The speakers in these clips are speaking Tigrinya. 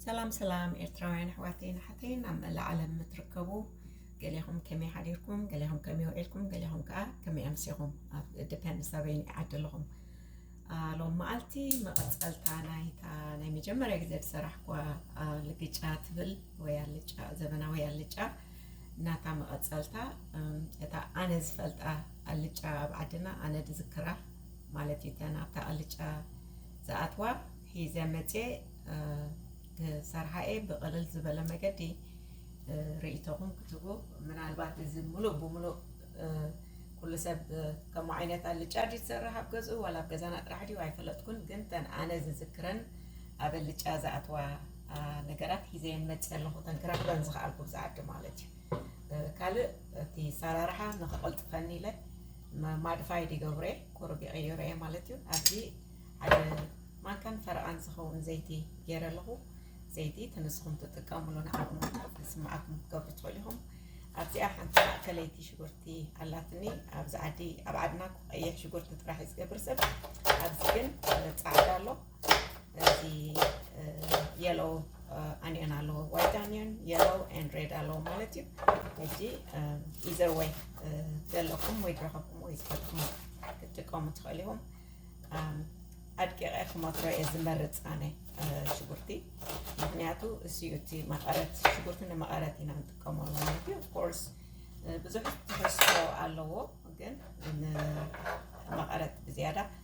ሰላም ሰላም ኤርትራውያን ኣሕዋተይን ኣሓተይን ኣብ መላእ ዓለም እትርከቡ ገሊኹም ከመይ ሓዲርኩም ገሊኹም ከመይ ውዒልኩም ገሊኹም ከዓ ከመይ ኣምሲኹም ኣብ ዲፐንድስ ኣበይ ዓዲ ኣለኹም ሎም መዓልቲ መቐፀልታ ናይታ ናይ መጀመርያ ግዜ ዝሰራሕኳ ልግጫ ትብል ወይ ኣልጫ ዘበናዊ ኣልጫ ናታ መቐጸልታ እታ ኣነ ዝፈልጣ ኣልጫ ኣብ ዓድና ኣነ ድዝክራ ማለት እዩ እተን ኣብታ ኣልጫ ዝኣትዋ ሒዘ መጽየ ክሰርሓ እየ ብቕልል ዝበለ መገዲ ርእይቶኹም ክትቡ ምናልባት እዚ ሙሉእ ብሙሉእ ኩሉ ሰብ ከምኡ ዓይነት ኣልጫ ድዩ ዝሰርሕ ኣብ ገዝኡ ዋላ ኣብ ገዛና ጥራሕ ድዩ ኣይፈለጥኩን ግን ተን ኣነ ዝዝክረን ኣብ ኣልጫ ዝኣትዋ ነገራት ሒዘየን መፅ ኣለኹ እተን ክረኽበን ዝኸኣልኩ ብዛ ዓዲ ማለት እዩ ካልእ እቲ ሰራርሓ ንክቐልጥፈኒ ኢለ ማድፋይ ዲገብረ ቁሩብ ይቕይረ እየ ማለት እዩ ኣብዚ ሓደ ማንካን ፈረቓን ዝኸውን ዘይቲ ገይረ ኣለኹ ዘይቲ እቲ ንስኹም ትጥቀምሉ ንዓኹም ስምዓኩም ክትገብሩ ትኽእሉ ኢኹም ኣብዚኣ ሓንቲ ማእከለይቲ ሽጉርቲ ኣላትኒ ኣብዚ ዓዲ ኣብ ዓድና ቀይሕ ሽጉርቲ ጥራሕ እዩ ዝገብር ሰብ ኣብዚ ግን ፃዕዳ ኣሎ እዚ የሎ ኣኒዮን ኣለዎ ዋይት ኣኒዮን የሎ ን ሬድ ኣለዎ ማለት እዩ ሕጂ ኢዘር ወይ ዘለኩም ወይ ድረኸብኩም ወይ ዝፈልኩም ክትጥቀሙ ትኽእል ኢኹም ኣድቂቐ ክመትሮ እየ ዝመርፅ ኣነ ሽጉርቲ ምክንያቱ እሱዩ እቲ መቐረት ሽጉርቲ ንመቐረት ኢና ንጥቀመሉ ማለት እዩ ኮርስ ብዙሕ ትሕዝቶ ኣለዎ ግን መቐረት ብዝያዳ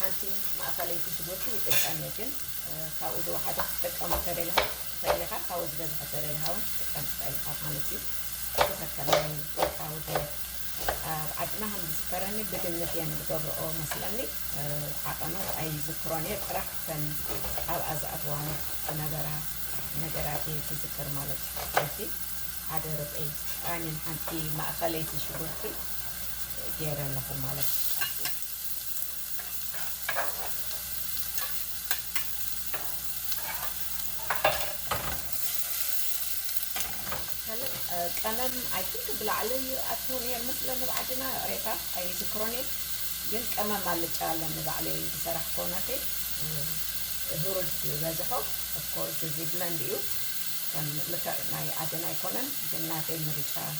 ሓንቲ ማእኸለይቲ ሽጉርቲ ይጥቀም እየ ግን ካብኡ ዝወሓደ ክትጥቀም እንተደሊኻ ትኽእል ኢኻ ካብኡ ዝበዝሐ ተደሊኻ እውን ክትጥቀም ትኽእል ኢኻ ማለት እዩ ብኸከም ናይ ውልቃዊ ድሌት ኣብ ዓድና ከም ዝዝከረኒ ብግምት እየን ዝገብርኦ መስለኒ ዓቐኑ ኣይዝክሮን እየ ጥራሕ እተን ኣብኣ ዝኣትዋ ዝነበራ ነገራት እየ ዝዝክር ማለት እዩ ስለዚ ሓደ ርብዒ ቃኝን ሓንቲ ማእኸለይቲ ሽጉርቲ ገይረ ኣለኹ ማለት እዩ ካልእ ቀመም ኣይ ቲንክ ብላዕሊ ኣቶ ነይር መስለ ንባዓድና ሬታ ኣይዝክሮን እየ ግን ቀመም ኣልጫ ኣለ ንባዕለይ ዝሰራሕ ኮናተይ ህሩድ ዝበዝሖ ኦፍኮርስ እዚ ብለንድ እዩ ከም ልክዕ ናይ ዓድና ኣይኮነን ግን ናተይ ምርጫ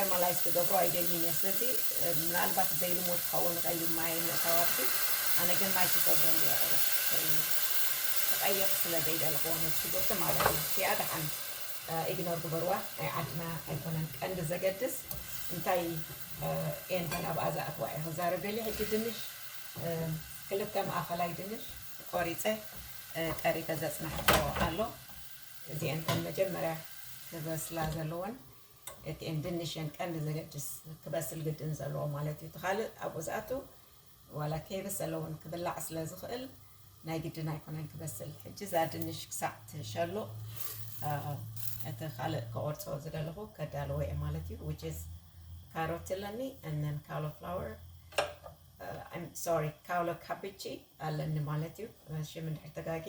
ኤርማላይዝ ክገብሮ ኣይደልይን እየ ስለዚ ምናልባት ዘይልሙድ ክኸውን ይኽእል እዩ ማይ ምእታው ኣብቲ ኣነ ግን ማይ ክገብሮ እየ ክቐይር ስለ ዘይደለኹዎ ነቲ ሽጉርቲ ማለት እዩ እቲኣ ደሓን ኢግኖር ግበርዋ ናይ ዓድና ኣይኮነን ቀንዲ ዘገድስ እንታይ ኤንተን ኣብኣ ዝኣትዋ እየ ክዛረብ ደልየ ሕጂ ድንሽ ክልተ ማእኸላይ ድንሽ ቆሪፀ ጠሪፈ ዘፅናሕክዎ ኣሎ እዚኤንተን መጀመርያ ክበስላ ዘለወን ኤትኤም ድንሽ የን ቀንዲ ዘገድስ ክበስል ግድን ዘለዎ ማለት እዩ እቲ ካልእ ኣብኡ ዝኣቱ ዋላ ከይበሰለ እውን ክብላዕ ስለ ዝኽእል ናይ ግድን ኣይኮነን ክበስል ሕጂ እዛ ድንሽ ክሳዕ ትሸሉቕ እቲ ካልእ ከቆርፆ ዝደለኹ ከዳልዎ እየ ማለት እዩ which is ካሮት ኣለኒ and then cauliflower uh, I'm sorry ካውሎ ካቢቺ ኣለኒ ማለት እዩ ሽም እንድሕር ተጋጌ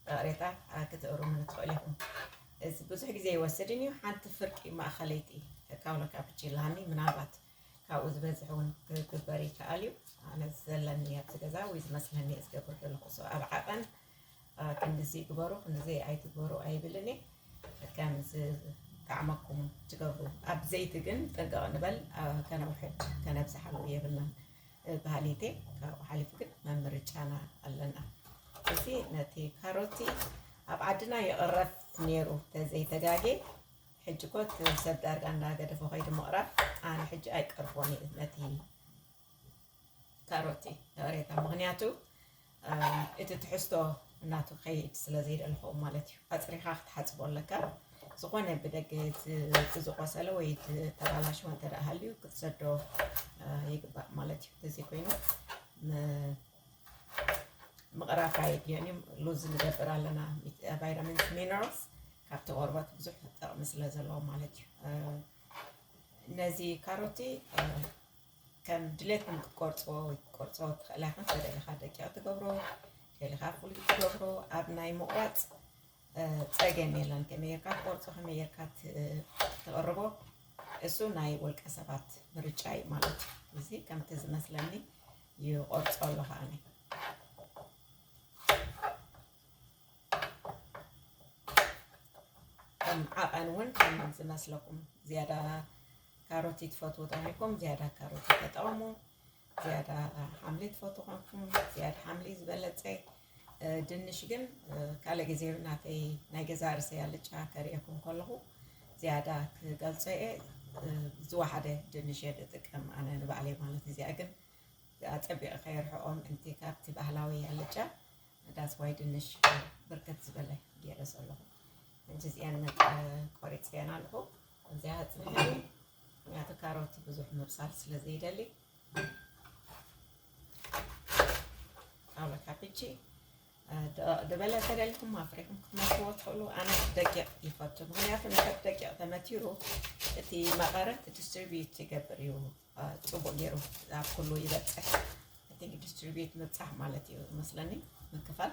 ጣቕሬታ ክትእሩሙኒ ትኽእሉ ኢኹም። እዚ ብዙሕ ግዜ ኣይወስድን እዩ፣ ሓንቲ ፍርቂ ማእኸለይቲ ካውኖ ካፕቺ ላኒ፣ ምናልባት ካብኡ ዝበዝሕ እውን ክግበር ይከኣል እዩ። ኣነ ዘለኒ ኣብዚ ገዛ ወይ ዝመስለኒ እየ ዝገብር ዘለኹ። ሶ ኣብ ዓቐን ክንድዚ ግበሩ ክንድዚ ኣይትግበሩ ኣይብልን እየ። ከም ዝጣዕመኩም ትገብሩ። ኣብ ዘይቲ ግን ጥንቅቕ ንበል፣ ከነውሕድ ከነብዝሓሉ የብልናን። ብሃሊተይ ካብኡ ሓሊፉ ግን መምርጫና ኣለና እዚ ነቲ ካሮቲ ኣብ ዓድና ይቕረብ ነይሩ ተዘይተጋጌ ሕጂ ኮ ሰብ ዳርጋ እንዳገደፎ ከይዲ ምቕራብ ኣነ ሕጂ ኣይቀርቦን እዩ ነቲ ካሮቲ ዳሬታ ምክንያቱ እቲ ትሕዝቶ ናቱ ክኸይድ ስለ ዘይደለኹ ማለት እዩ። ኣጽሪኻ ክትሓጽቦ ኣለካ። ዝኾነ ብደገ እቲ ዝቆሰለ ወይ እቲ ተባላሸወ እንተ ሃልዩ ክትሰዶ ይግባእ ማለት እዩ። እዚ ኮይኑ ምቕራፍ ኣየድልዮን እዩ። ሉዝ ንገብር ኣለና ቫይታሚንስ ሚነራልስ ካብቲ ቆርበት ብዙሕ ጥቕሚ ስለ ዘለዎ ማለት እዩ። ነዚ ካሮቲ ከም ድሌትኩም ክትቆርፅዎ ወይ ክትቆርፅዎ ትኽእላ ኢኻ ከደለኻ ደቂቕ ትገብሮ ከይልኻ ፍሉይ ትገብሮ ኣብ ናይ ምቑራፅ ፀገም የለን ከመይ ጌርካ ትቆርፆ ከመይ ጌርካ ትቕርቦ እሱ ናይ ውልቀ ሰባት ምርጫ እዩ ማለት እዩ እዚ ከምቲ ዝመስለኒ ይቆርፆ ኣለኻ እኔ ከም ዓቐን እውን ከም ዝመስለኩም ዝያዳ ካሮቲ ትፈትዉ ተኾይንኩም ዝያዳ ካሮቲ ተጠቐሙ ዝያዳ ሓምሊ ትፈትዉ ኮንኩም ዝያዳ ሓምሊ ዝበለፀ ድንሽ ግን ካልእ ግዜ ናተይ ናይ ገዛ ርሰይ ኣልጫ ከርእየኩም ከለኹ ዝያዳ ክገልፆ እየ ዝወሓደ ድንሽ እየ ዝጥቀም ኣነ ንባዕለይ ማለት እዚኣ ግን ኣፀቢቐ ከየርሕኦ ምእንቲ ካብቲ ባህላዊ ኣልጫ ዳስዋይ ድንሽ ብርክት ዝበለ ገይረ ዘለኹ እንጂ እዚኣን ቆሪፅ እየን ኣለኹ እዚኣ ፅብሒ ምክንያቱ ካሮት ብዙሕ ምብሳል ስለ ዘይደሊ ጣውላ ካፒቺ ድበለ ተደሊኹም ኣፍሪኹም ክትመትዎ ትኽእሉ ኣነ ደቂቕ ይፈቱ ምክንያቱ ንከብ ደቂቕ ተመቲሩ እቲ መቐረት ዲስትሪቢዩት ይገብር እዩ ፅቡቅ ገይሩ ኣብ ኩሉ ይበፅሕ እቲ ዲስትሪቢዩት ምብፃሕ ማለት እዩ መስለኒ ምክፋል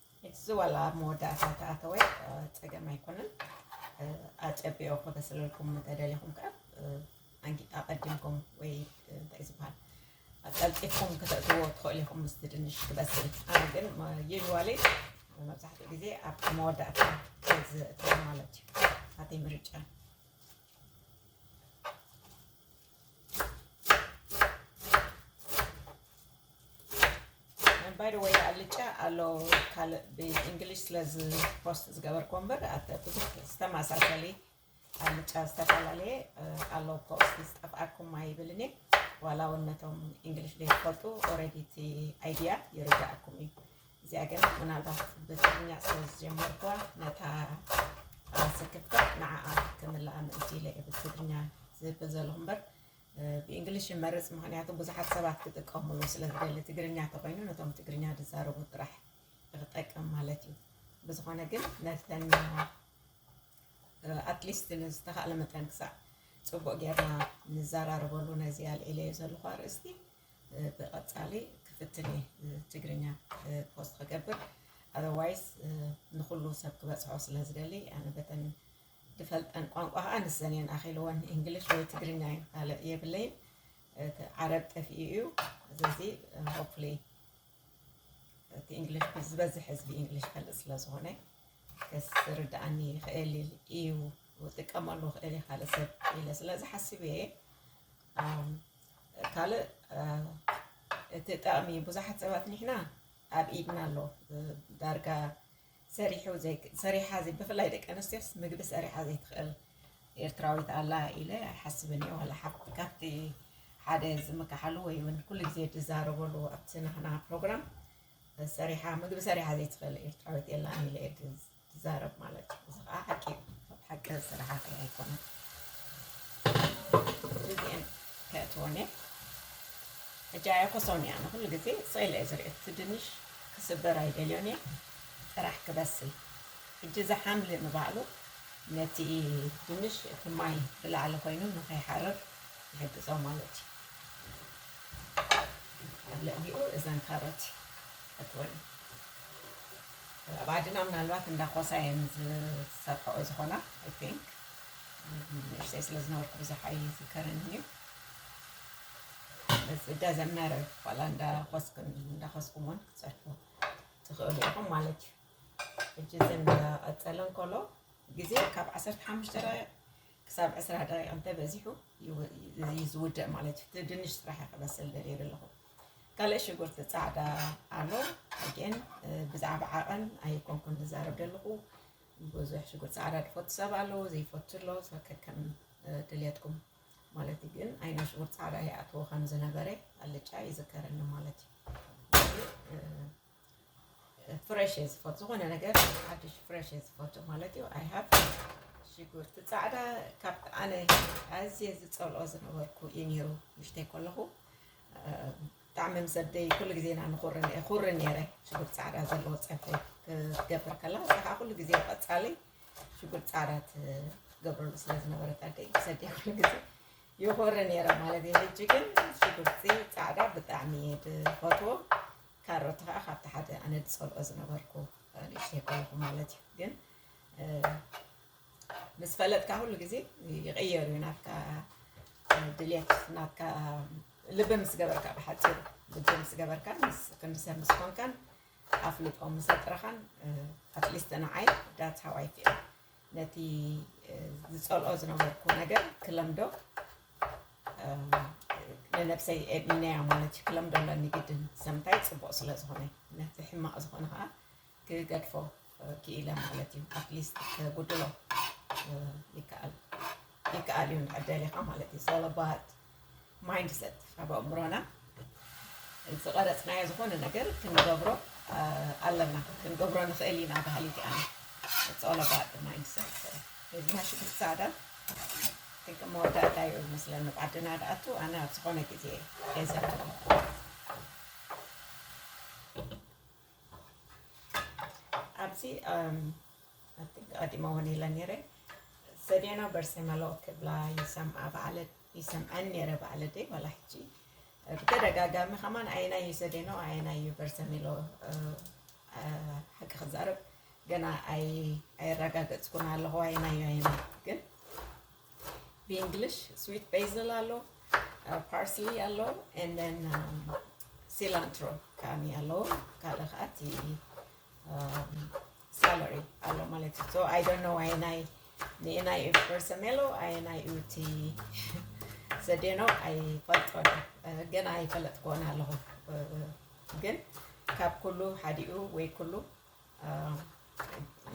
እዚ ዋላ ኣብ መወዳእታ ተኣተወ ፀገም ኣይኮነን። ኣፀቢቑ ክበስለልኩም እንተደሊኹም ከዓ ኣቐዲምኩም ወይ እንታይ ዝበሃል ቀልጢፍኩም ክተእትዎ ትኽእሉ ኢኹም ምስቲ ድንሽ ክበስል። ኣነ ግን ዩዥዋሊ መብዛሕትኡ ግዜ ኣብ መወዳእታ ዘእትዎ ማለት እዩ። ናተይ ምርጫ ባይ ወይ ኣልጫ ኣሎ ካልእ ብእንግሊሽ ስለ ፖስት ዝገበርኩ እምበር ብዙሕ ዝተመሳሰሊ ኣልጫ ዝተፈላለየ ኣሎ እኮ እስኪ ዝጠፍኣኩም ኣይብልኒ ዋላ እውን ነቶም እንግሊሽ ዘይትፈልጡ ኦረዲ እቲ ኣይድያ ይርዳእኩም እዩ እዚኣ ግን ምናልባት ብትግርኛ ስለ ዝጀመርኩዋ ነታ ስክፍታ ንዓኣ ክምልኣ ምእንቲ ኢለ እየ ብትግርኛ ዝብል ዘለኹ እምበር ብእንግሊሽ ይመርፅ ምክንያቱ ብዙሓት ሰባት ክጥቀምሉ ስለ ዝደሊ ትግርኛ ተኮይኑ ነቶም ትግርኛ ዝዛረቡ ጥራሕ ክጠቅም ማለት እዩ ብዝኾነ ግን ነተን ኣትሊስት ንዝተኻእለ መጠን ክሳዕ ፅቡቅ ጌርና ንዘራረበሉ ነዚ ኣልዒለዮ ዘለኹ ኣርእስቲ ብቀጻሊ ክፍትን እየ ትግርኛ ፖስት ክገብር ኣዘርዋይስ ንኩሉ ሰብ ክበጽሖ ስለ ዝደሊ ኣነ በተን ድፈልጠን ቋንቋ ከዓ ንሰን እየን ኣኺልወን እንግሊሽ ወይ ትግርኛ እዩ ካልእ የብለይን እቲ ዓረብ ጠፊኡ እዩ ስለዚ ሆፕሊ እቲ እንግሊሽ ዝበዝሕ ህዝቢ እንግሊሽ ፈልጥ ስለ ዝኾነ ክስ ርድኣኒ ይኽእል እዩ ክጥቀመሉ ክእል እየ ካልእ ሰብ ኢለ ስለ ዝሓስብ እየ ካልእ እቲ ጠቕሚ ብዙሓት ሰባት ንሕና ኣብ ኢድና ኣሎ ዳርጋ ሰሪሑ ሰሪሓ ብፍላይ ደቂ ኣንስትዮስ ምግቢ ሰሪሓ ዘይትኽእል ኤርትራዊት ኣላ ኢለ ኣይሓስብን እየ ዋላ ሓብቲ ካብቲ ሓደ ዝምካሓሉ ወይ እውን ኩሉ ግዜ ዝዛረበሉ ኣብቲ ናህና ፕሮግራም ሰሪሓ ምግቢ ሰሪሓ ዘይትኽእል ኤርትራዊት የላን ኢለ እየ ዝዛረብ ማለት እዩ። እዚ ከዓ ሓቂ እዩ። ሓቂ ዝስራሓ ከ ኣይኮነን እዚኤን ከእትወን እየ ሕጂ ኣየኮሶን እያ ንኩሉ ግዜ ስኢለ እየ ዝሪኦ እቲ ድንሽ ክስበር ኣይደልዮን እየ ጥራሕ ክበስል ሕጂ እዚ ሓምሊ ንባዕሉ ነቲ ድንሽ እቲ ማይ ብላዕሊ ኮይኑ ንከይሓርር ይሕግዞ ማለት እዩ። ኣብ ልዕሊኡ እዘን ካሮት እትወን ኣብ ዓድና ምናልባት እንዳ ኮሳ እየን ዝሰርሐኦ ዝኾና ኣይ ቲንክ ንእሽተይ ስለ ዝነበርኩ ብዙሕ ኣይዝከርን እዩ እዚ ደዘን መረር ዋላ እንዳ ኮስክን እንዳ ኮስኩም እውን ክትሰርሑ ትኽእሉ ኢኹም ማለት እዩ ሕጂ እዚ እንዳቐፀለ እንከሎ ግዜ ካብ ዓሰርተ ሓሙሽተ ደቂቕ ክሳብ ዕስራ ደቂቕ እንተበዚሑ እዩ ዝውዳእ ማለት እዩ። እቲ ድንሽ ስራሕ እየ ክበስል ደልየ ዘለኹ። ካልእ ሽጉርቲ ፃዕዳ ኣሎ ግን ብዛዕባ ዓቐን ኣይኮንኩን ዝዛረብ ደለኹ። ብዙሕ ሽጉርቲ ፃዕዳ ዝፈቱ ሰብ ኣለዎ ዘይፈቱ ኣሎ ከከም ድልየትኩም ማለት እዩ። ግን ዓይና ሽጉርቲ ፃዕዳ ይኣትዎ ከም ዝነበረ ኣልጫ ይዝከረኒ ማለት እዩ። ፍረሽ እየ ዝፈቱ ዝኾነ ነገር ሓድሽ ፍረሽ እየ ዝፈቱ ማለት እዩ ኣይ ሃቭ ሽጉርቲ ፃዕዳ ካብ ኣነ ኣዝየ ዝፀልኦ ዝነበርኩ እዩ ነይሩ ምሽተይ ከለኹ ብጣዕሚ ምስ ኣደይ ኩሉ ግዜ ኢና ንኹርን እየ ኩሪ ነይረ ሽጉርቲ ፃዕዳ ዘለዎ ፀብሒ ክትገብር ከላ እዛ ከዓ ኩሉ ግዜ ቀፃሊ ሽጉርቲ ፃዕዳ ትገብረሉ ስለ ዝነበረት ኣደይ ምስ ኣደይ ኩሉ ግዜ ይኹሪ ነይረ ማለት እዩ ሕጂ ግን ሽጉርቲ ፃዕዳ ብጣዕሚ እየ ዝፈትዎ ካሮት ከኣ ካብቲ ሓደ ኣነ ዝጸልኦ ዝነበርኩ ንእሽተይ ከለኹ ማለት እዩ ግን ምስ ፈለጥካ ኩሉ ግዜ ይቕየር እዩ ናትካ ድልየት ናትካ ልቢ ምስ ገበርካ ብሓፂሩ ልቢ ምስ ገበርካ ክንዲ ሰብ ምስ ኮንካን ኣፍልጦ ምስ ኣጥረኻን ኣትሊስት ንዓይ ዳት ሃዋይ ፊል ነቲ ዝጸልኦ ዝነበርኩ ነገር ክለምዶ ንነብሰይ እምነያ ማለት እዩ ክለምዶ ኣለኒ ግድን ሰምታይ ፅቡቅ ስለ ዝኾነ ነቲ ሕማቅ ዝኾነ ከዓ ክገድፎ ክኢለ ማለት እዩ ኣትሊስት ከጉድሎ ይከኣል ይከኣል እዩ እንድሕር ደሊኻ ማለት እዩ ሰለባት ማይንድ ሰት ኣብ ኣእምሮና ዝቐረፅናዮ ዝኾነ ነገር ክንገብሮ ኣለና ክንገብሮ ንኽእል ኢና በሃሊት እያ ፀለባት ማይንድ ሰት እዝና ሽጉርቲ ፃዕዳ ጥንቂ መወዳእታ እዩ ይመስለኒ ብዓድና ድኣቱ ኣነ ኣብ ዝኾነ ግዜ የዘቱ ኣብዚ ኣዲማውን ኢለ ነይረ ሰዴና በርሴ መለኦ ክብላ ይሰምዓ ባዕለ ይሰምዐን ነይረ ባዕለ ደይ ዋላ ሕጂ ብተደጋጋሚ ከማን ዓይና እዩ ሰዴኖ ዓይና እዩ በርሰ ሚሎ ሓቂ ክዛረብ ገና ኣይ ኣይረጋገፅኩን ኣለኹ ዓይና እዩ ዓይና ግን ብእንግሊሽ ስዊት ቤዝል ኣሎ ፓርስሊ ኣሎ ንን ሲላንትሮ ከዓ ኣሎ ካልእ ከዓ እቲ ሳለሪ ኣሎ ማለት እዩ ኣይ ዶንት ኖ ኣየናይ ንኤናይ እዩ ፐርሰሜሎ ኣየናይ እዩ እቲ ዘዴኖ ኣይፈልጦ ግን ኣይፈለጥክዎን ኣለኹ ግን ካብ ኩሉ ሓዲኡ ወይ ኩሉ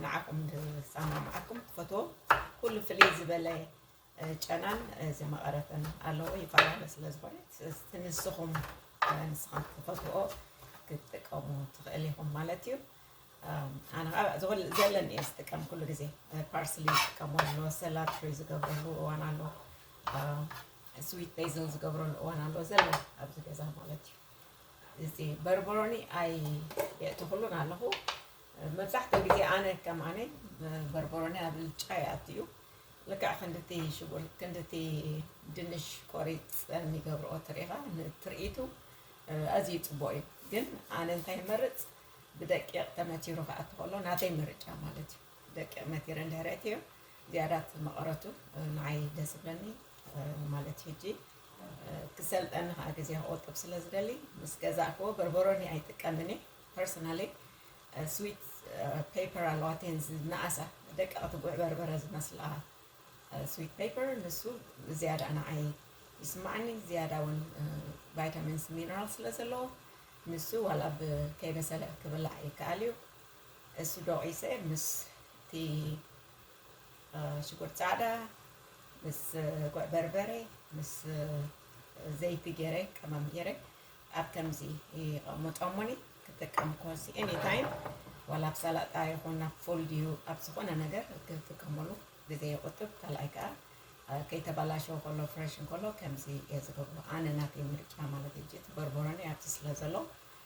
ንዓኹም ዝሰማምዓኩም ትፈትዎ ኩሉ ፍልይ ዝበለ ጨናን ዝመቐረትን ኣለዎ ይፈላለ ስለ ዝኾነ እቲ ንስኹም ንስኻት ትፈትዎ ክትጥቀሙ ትኽእል ኢኹም ማለት እዩ ኣነ ከዓ ዝኹል- ዘለን እየ ዝጥቀም ኩሉ ግዜ ፓርስሊ ዝጥቀሙ ኣለዎ ሰላድ ፍሪ ዝገብረሉ እዋን ኣሎ ስዊት ቤዝል ዝገብረሉ እዋን ኣሎ ዘለን ኣብዚ ገዛ ማለት እዩ እዚ በርበሮኒ ኣይ የእተኽሉን ኣለኹ መብዛሕትኡ ግዜ ኣነ ከም ኣነ በርበሮኒ ኣብ ልጫ ይኣቱ እዩ ልክዕ ክንድቲ ሽጉር ክንድቲ ድንሽ ቆሪፀን ይገብርኦ ትሪኢኻ ንትርኢቱ ኣዝዩ ፅቡቅ እዩ ግን ኣነ እንታይ ይመርፅ ብደቂቅ ተመቲሩ ክኣቱ ከሎ ናተይ ምርጫ ማለት እዩ ደቂቅ መቲረ እንድሕር እትዮ ዝያዳት መቐረቱ ንዓይ ደስ ይብለኒ ማለት እዩ ሕጂ ክሰልጠኒ ከኣ ግዜ ክቁጥብ ስለ ዝደሊ ምስ ገዛእክዎ በርበሮኒ ኣይጥቀምን እየ ፐርሰናሊ ስዊት ፔፐር ኣለዋ እተን ዝነኣሳ ደቀቅቲ ጉዕ በርበረ ዝመስላ ስዊት ፔፐር ንሱ ዝያዳ ንዓይ ይስማዓኒ ዝያዳ እውን ቫይታሚንስ ሚነራል ስለ ዘለዎ ንሱ ዋላ ብ ከይበሰለ ክብላዕ ይከኣል እዩ እሱ ዶቂሰ ምስቲ ሽጉርቲ ፃዕዳ ምስ ጉዕ በርበረ ምስ ዘይቲ ገይረ ቀመም ገይረ ኣብ ከምዚ ይቐምጦሙኒ ክጥቀም ኮሲ ኤኒ ታይም ዋላ ኣብ ሰላጣ ይኹን ኣብ ፉል ድዩ ኣብ ዝኾነ ነገር ክጥቀመሉ ግዜ ይቑጥብ ካልኣይ ከዓ ከይተበላሸወ ከሎ ፍሬሽ እንከሎ ከምዚ እየ ዝገብሮ ኣነ ናተይ ምርጫ ማለት እዩ እቲ በርበረኒ ኣብቲ ስለ ዘሎ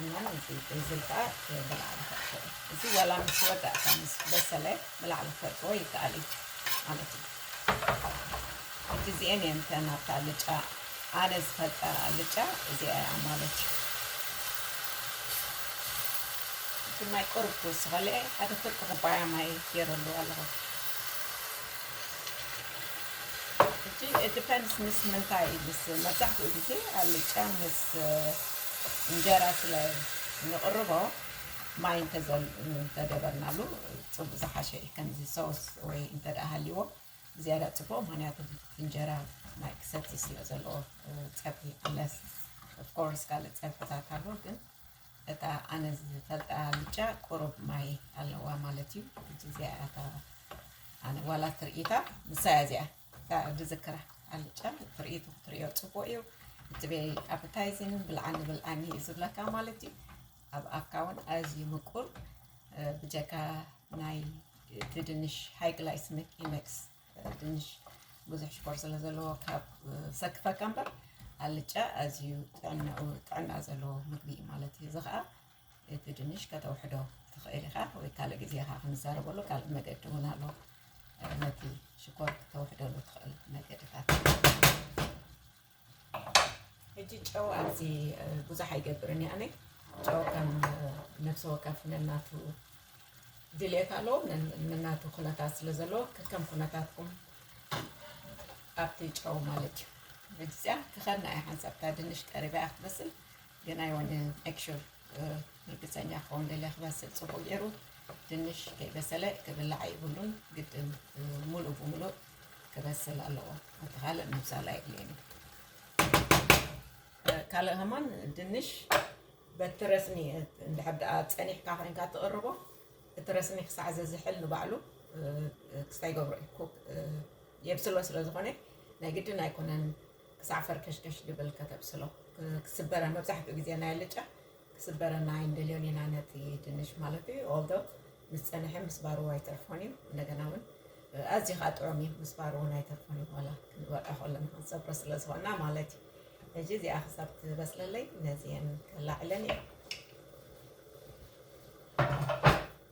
እሞ እዚ ቤዝል ከኣ ብላዕሊ ከእትዎ እዚ ዋላ ምስ ወዳእካ ምስ በሰለ ብላዕሊ ከእትዎ ይከኣል እዩ ማለት እዩ ሕጂ እዚኤን እየን እተን ኣብታ ኣልጫ ኣነ ዝፈልጠ ኣልጫ እዚኣ እያ ማለት እዩ እቲ ማይ ቁርብ ክውስኸለ ሓደ ፍርቂ ኩባያ ማይ ገይረሉ ኣለኹ ሕጂ ዲፐንስ ምስ ምንታይ ምስ መብዛሕትኡ ግዜ ኣልጫ ምስ እንጀራ ስለ እንቕርቦ ማይ እንተገበርናሉ ፅቡቕ ዝሓሸ እዩ። ከምዚ ሶስ ወይ እንተደኣ ሃልይዎ ዝያዳ ፅቡቕ ምክንያቱ እንጀራ ማይ ክሰቲ ስለ ዘለዎ ፀብሒ ኣለስ ኦፍኮርስ ካልእ ፀብሕታት ኣሎ ግን እታ ኣነ ዝፈልጣ ኣልጫ ቁሩብ ማይ ኣለዋ ማለት እዩ። እዚ እዚኣ እያ እታ ኣነ ዋላ ትርኢታ ንሳ እያ እዚኣ ክሳብ ዝዝክራ ኣልጫ ትርኢት ክትሪኦ ፅቡቅ እዩ እቲ ቤይ ኣፕታይዚን ብልዓኒ ብልዓኒ እዩ ዝብለካ ማለት እዩ ኣብ ኣፍካ እውን ኣዝዩ ምቁር እ፣ ብጀካ ናይ እቲ ድንሽ ሃይ ግላይስሚክ ኢንደክስ ድንሽ ብዙሕ ሽኮር ስለ ዘለዎ ካብ እ፣ ሰክፈካ እምበር ኣልጫ ኣዝዩ ጥዕናኡ ጥዕና ዘለዎ ምግቢ እዩ ማለት እዩ እዚ ከዓ እቲ ድንሽ ከተውሕዶ ትኽእል ኢኻ ወይ ካልእ ግዜ ኻ ክንዛረበሉ ካልእ መገዲ እውን ኣሎ ነቲ ሽኮር ክተውሕደሉ ትኽእል መገድታት ሕጂ ጨው ኣብዚ ብዙሕ ኣይገብርን ያነ ጨው ከም ነፍሲ ወከፍ ነናቱ ድልየት ኣለዎ ነናቱ ኩነታት ስለ ዘለዎ ከከም ኩነታትኩም ኣብቲ ጨው ማለት እዩ ብግዚያ ክኸና እያ ሓንሳብታ ድንሽ ቀሪባ ክትመስል ግን ኣይወንን ሜክሹር ርግፀኛ ክኸውን ደልየ ክበስል ፅቡቅ ገይሩ ድንሽ ከይበሰለ ክብላዕ ኣይብሉን ግድን ሙሉእ ብሙሉእ ክበስል ኣለዎ እቲ ካልእ ምብሳል ኣየድልየን እዩ ካልእ ከማን ድንሽ በቲ ረስኒ እንድሕር ደኣ ፀኒሕካ ኮይንካ ትቕርቦ እቲ ረስኒ ክሳዕ ዘዝሕል ንባዕሉ ክስታይ ገብሮ እዩ ኩክ የብስሎ ስለ ዝኾነ ናይ ግድን ኣይኮነን ክሳዕ ፈርከሽከሽ ድብል ከተብስሎ ክስበረ መብዛሕትኡ ግዜ ናይ ኣልጫ ክስበረና ኣይንደልዮን ኢና ነቲ ድንሽ ማለት እዩ ኦልዶ ምስ ፀንሐ ምስባሩ ኣይተርፎን እዩ እንደገና እውን ኣዝዩ ከዓ ጥዑም እዩ ምስባሩ እውን ኣይተርፎን እዩ ዋላ ክንበልዖ ከለና ክንሰብሮ ስለ ዝኾና ማለት እዩ ሕጂ እዚኣ ክሳብ ትበስለለይ ነዚአን ከላዕለን እየ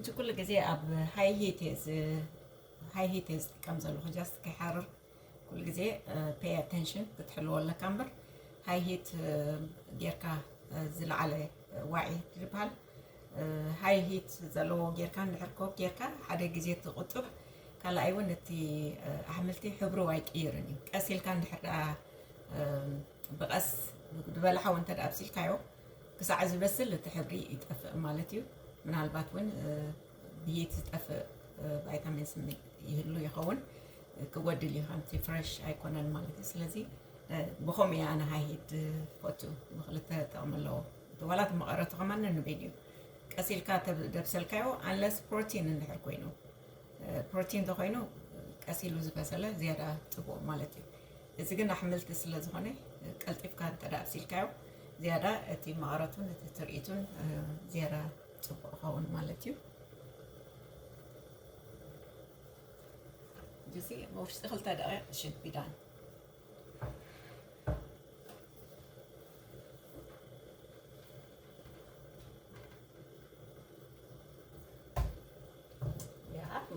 እዚ ኩሉ ግዜ ኣብ ሃይ ሂት እየ ሃይ ሂት እየ ዝጥቀም ዘለኹ ጃስት ከይሓርር ኩሉ ግዜ pay attention ክትሕልዎ ኣለካ እምበር high heat ጌርካ ዝለዓለ ዋዒ ዝበሃል high heat ዘለዎ ጌርካ እንድሕር ኮክ ጌርካ ሓደ ግዜ እቲ ቁጡዕ ካልኣይ እውን እቲ ኣሕምልቲ ሕብሩ ኣይቅይርን እዩ ቀስ ኢልካ እንድሕር ደኣ ብቐስ ብበላሓው እንተ ኣብሲልካዮ ክሳዕ ዝበስል እቲ ሕብሪ ይጠፍእ ማለት እዩ ምናልባት እውን ብይቲ ዝጠፍእ ቫይታሚንስ ም ይህሉ ይኸውን ክጎድል እዩ ከምቲ ፍረሽ ኣይኮነን ማለት እዩ ስለዚ ብከምኡ እየ ኣነ ሃይሂድ ዝፈቱ ብክልተ ጥቕሚ ኣለዎ እቲ ዋላ እቲ መቐረቱ ከማ ንንበይድ እዩ ቀስ ኢልካ ደብሰልካዮ ኣንለስ ፕሮቲን እንድሕር ኮይኑ ፕሮቲን ተኮይኑ ቀስ ኢሉ ዝበሰለ ዝያዳ ፅቡቕ ማለት እዩ እዚ ግን ኣሕምልቲ ስለ ዝኾነ ቀልጢፍካ እንተ ኣብሲልካዮ ዝያዳ እቲ መቐረቱን እቲ ትርኢቱን ዝያዳ ፅቡቕ ይኸውን ማለት እዩ እዚ ውሽጢ ክልተ ደቂቕ ሽድ ቢዳን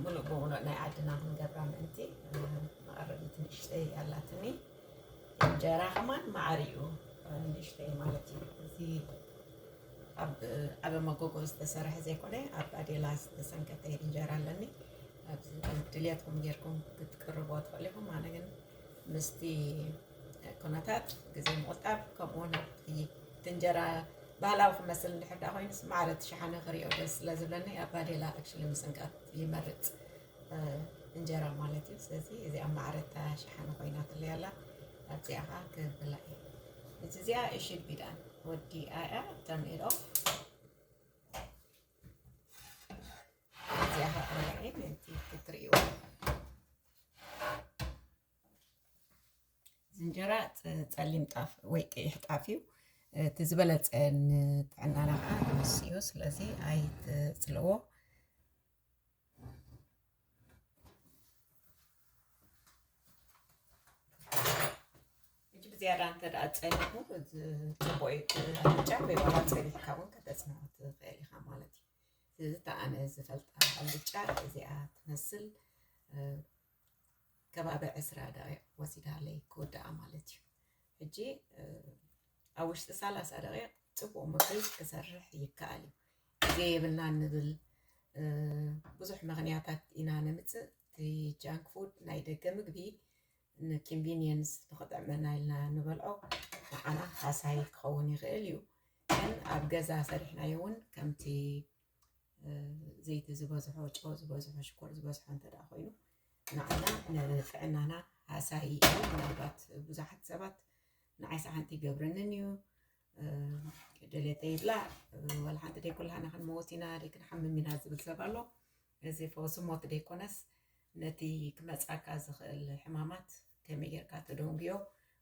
ሙሉእ ብሙሉእ ናይ ዓድና ክንገብራ ምእንቲ መቐረቢ ትንእሽተይ ኣላትኒ እንጀራ ከማን ማዕሪኡ ንእሽተይ ማለት እዩ እዚ ኣብ ዓበ መጎጎ ዝተሰርሐ ዘይኮነ ኣብ ባዴላ ዝተሰንከተ እንጀራ ኣለኒ ኣብዚ ድልየትኩም ጌርኩም ክትቅርብዎ ትኽእሉ ኢኹም ኣነ ግን ምስቲ ኩነታት ግዜ ምቑጣብ ከምኡ ውን ኣብቲ እንጀራ ባህላዊ ክመስል እንድሕር ዳ ኮይኑስ ማዕረ እቲ ሸሓነ ክሪኦ ደስ ስለ ዝብለኒ ኣብ ባዴላ ኣክሽሊ ምስንካት ይመርፅ እንጀራ ማለት እዩ ስለዚ እዚኣ ማዕረ እታ ሸሓኒ ኮይናትለይ ኣላ ኣብዚኣ ከዓ ክብላ እየ እዚ እዚኣ እሽድ ቢዳን ወዲ ኣያ ተርን ኢት ኦፍ እዚኣ ከዓ ክብላ እየ ነቲ ክትርእይዎ እዚ እንጀራ ፅ- ፀሊም ጣፍ ወይ ቀይሕ ጣፍ እዩ እቲ ዝበለፀ ንጥዕናና ከዓ ንሱ እዩ ስለዚ ኣይትፅልዎ ዝያዳ እንተ ደኣ ፀኒሑ እዚ ፅቡቅ እዩ ኣልጫ ወይ ዋላ ፀቢሕካ እውን ከተፅንዖ ትኽእል ኢኻ ማለት እዩ ስለዚ እታ ኣነ ዝፈልጣ ኣልጫ እዚኣ ትመስል ከባቢ ዕስራ ደቂቕ ወሲዳለይ ክውድኣ ማለት እዩ ሕጂ ኣብ ውሽጢ ሰላሳ ደቂቕ ፅቡቕ ምግቢ ክሰርሕ ይከኣል እዩ ግዜ የብልናን ንብል ብዙሕ ምክንያታት ኢና ነምፅእ እቲ ጃንክ ፉድ ናይ ደገ ምግቢ ንኪንቪኒየንስ ንክጥዕመና ኢልና ንበልዖ ንዓና ሃሳይ ክኸውን ይኽእል እዩ ግን ኣብ ገዛ ሰሪሕናዮ እውን ከምቲ ዘይቲ ዝበዝሖ ጨው ዝበዝሖ ሽኮር ዝበዝሖ እንተ ኮይኑ ንዓና ንጥዕናና ሃሳይ እዩ ምናልባት ብዙሓት ሰባት ንዓይ ሰሓንቲ ይገብረንን እዩ ደሌተ ይብላ ወላ ሓንቲ ደይ ኩላና ክንመወት ኢና ደይ ክንሓምም ኢና ዝብል ሰብ ኣሎ እዚ ፈውሲ ሞት ደይኮነስ ነቲ ክመፃካ ዝኽእል ሕማማት ከመይ ጌርካ ትደንጉዮ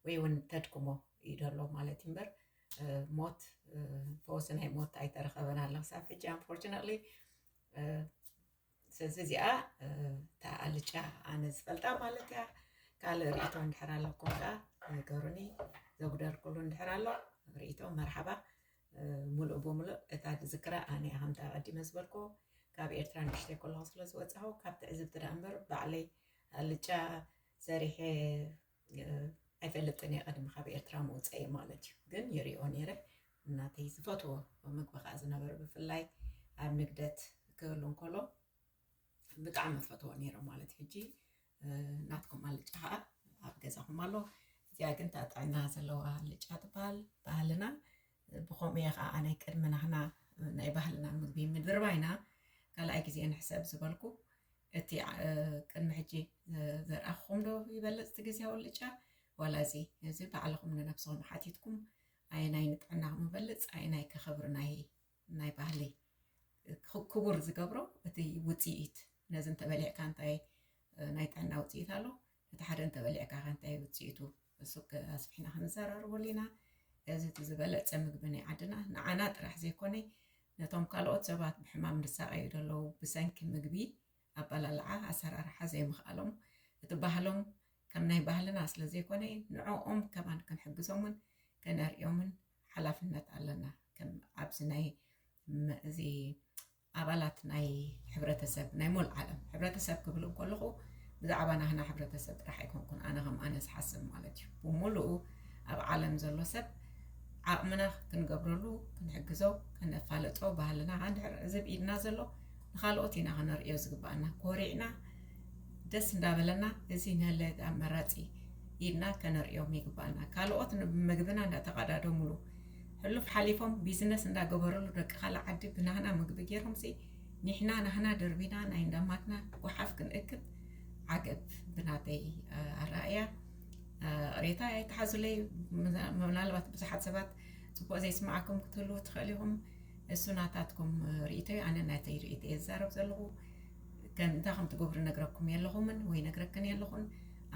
ወይ እውን ተድክሞ እዩ ዘሎ ማለት እዩ እምበር ሞት ፈወሲ ናይ ሞት ኣይተረኸበን ኣለ ክሳብ ሕጂ ኣንፎርችነትሊ ስለዚ እዚኣ እታ ኣልጫ ኣነ ዝፈልጣ ማለት እያ ካልእ ርእቶ እንድሕር ኣለኩም ከዓ ነገሩኒ ዘጉደልኩሉ እንድሕር ኣሎ ርእቶ መርሓባ ሙሉእ ብምሉእ እታ ዝክራ ኣነ ከምታ ቀዲመ ዝበልኩ ካብ ኤርትራ ንሽተይ ከለኹ ስለ ዝወፃኹ ካብ ትዕዝብቲ ዳ እምበር ባዕለይ ኣልጫ ሰሪሐ ኣይፈልጥን እየ ቀድሚ ካብ ኤርትራ ምውፀኢ ማለት እዩ ግን ይሪኦ ነይረ እናተይ ዝፈትዎ ምግቢ ከዓ ዝነበረ ብፍላይ ኣብ ንግደት ክህሉ እንከሎ ብጣዕሚ ፈትዎ ነይረ ማለት ሕጂ ናትኩም ኣልጫ ከዓ ኣብ ገዛኹም ኣሎ እዚኣ ግን ታጥዕና ዘለዋ ኣልጫ ትበሃል ባህልና ብኸምኡ እየ ኸኣ ኣነ ቅድሚ ናህና ናይ ባህልና ምግቢ ምድርባይና ካልኣይ ግዜ ንሕሰብ ዝበልኩ። እቲ ቅድሚ ሕጂ ዘርኣኹኹም ዶ ይበልጽ እቲ ግዝያዊ ኣልጫ ዋላ እዚ? እዚ ባዕልኹም ንነብስኹም ሓቲትኩም ኣየናይ ንጥዕናኹም ይበልጽ ኣየናይ ከ ክብሪ ናይ ናይ ባህሊ ክቡር ዝገብሮ እቲ ውጽኢት ነዚ እንተበሊዕካ እንታይ ናይ ጥዕና ውጽኢት ኣሎ እቲ ሓደ እንተበሊዕካ ከ እንታይ ውፅኢቱ እሱ ኣስፊሕና ክንዘራርበሉ ኢና። እዚ እቲ ዝበለፀ ምግቢ ናይ ዓድና ንዓና ጥራሕ ዘይኮነ ነቶም ካልኦት ሰባት ብሕማም ዝሳቐዩ ዘለዉ ብሰንኪ ምግቢ ኣበላልዓ ኣሰራርሓ ዘይምኽኣሎም እቲ ባህሎም ከም ናይ ባህልና ስለዘይኮነ ንዕኦም ከማን ክንሕግዞምን ከነርእዮምን ሓላፍነት ኣለና ከም ኣብዚ ናይ እዚ ኣባላት ናይ ሕብረተሰብ ናይ ሞል ዓለም ሕብረተሰብ ክብል እንኮለኹ ብዛዕባ ናህና ሕብረተሰብ ጥራሕ ኣይኮንኩን ኣነ ከም ኣነ ዝሓስብ ማለት እዩ ብምሉኡ ኣብ ዓለም ዘሎ ሰብ ዓቕምና ክንገብረሉ ክንሕግዞ ከነፋለጦ ባህልና ከ እንድሕር እዚ ብኢድና ዘሎ ንካልኦት ኢና ከነርእዮ ዝግባኣና ኮሪዕና ደስ እንዳበለና እዚ ነለ ኣመራፂ ኢድና ከነርእዮም ይግባኣና ካልኦት ምግብና እንዳተቀዳደሙሉ ሕሉፍ ሓሊፎም ቢዝነስ እንዳገበርሉ ደቂ ካልእ ዓዲ ብናህና ምግቢ ገይሮምሲ ኒሕና ናህና ደርቢና ናይ እንዳማትና ጓሓፍ ክንእክብ ዓገብ ብናተይ ኣረኣእያ ሬታ ኣይተሓዙለይ ምናልባት ብዙሓት ሰባት ፅቡቅ ዘይስማዓኩም ክትህልዉ ትኽእል ኢኹም እሱ ናታትኩም ርእቶ እዩ ኣነ ናተይ ርእቶ እየ ዝዛረብ ዘለኹ ግን እንታይ ከም ትገብሩ እነግረኩም የለኹምን ወይ እነግረክን የለኹን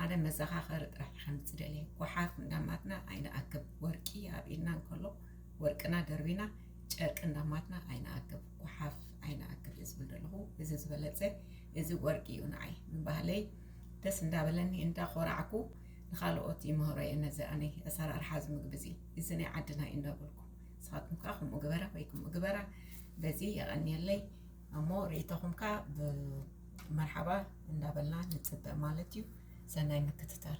ኣነ መዘኻኸሪ ጥራሕ ከምፅ ደልየ ጓሓፍ እንዳማትና ኣይንኣክብ ወርቂ ኣብ ኢድና እንከሎ ወርቅና ደርቢና ጨርቂ እንዳማትና ኣይንኣክብ ጓሓፍ ኣይንኣክብ እየ ዝብል ዘለኹ እዚ ዝበለፀ እዚ ወርቂ እዩ ንዓይ ምባህለይ ደስ እንዳበለኒ እንዳኾራዕኩ ንካልኦት ይምህሮ እየ ነዚ ኣነ ኣሰራርሓ እዚ ምግቢ እዚ እዚ ናይ ዓድና እዩ እንዳበልኩ ንስኻትኩም ከዓ ከምኡ ግበረ ወይ ከምኡ ግበራ በዚ የቐንየለይ እሞ ርእይቶኹም ከኣ ብመርሓባ እንዳበልና ንጽበ ማለት እዩ። ሰናይ ምክትታል።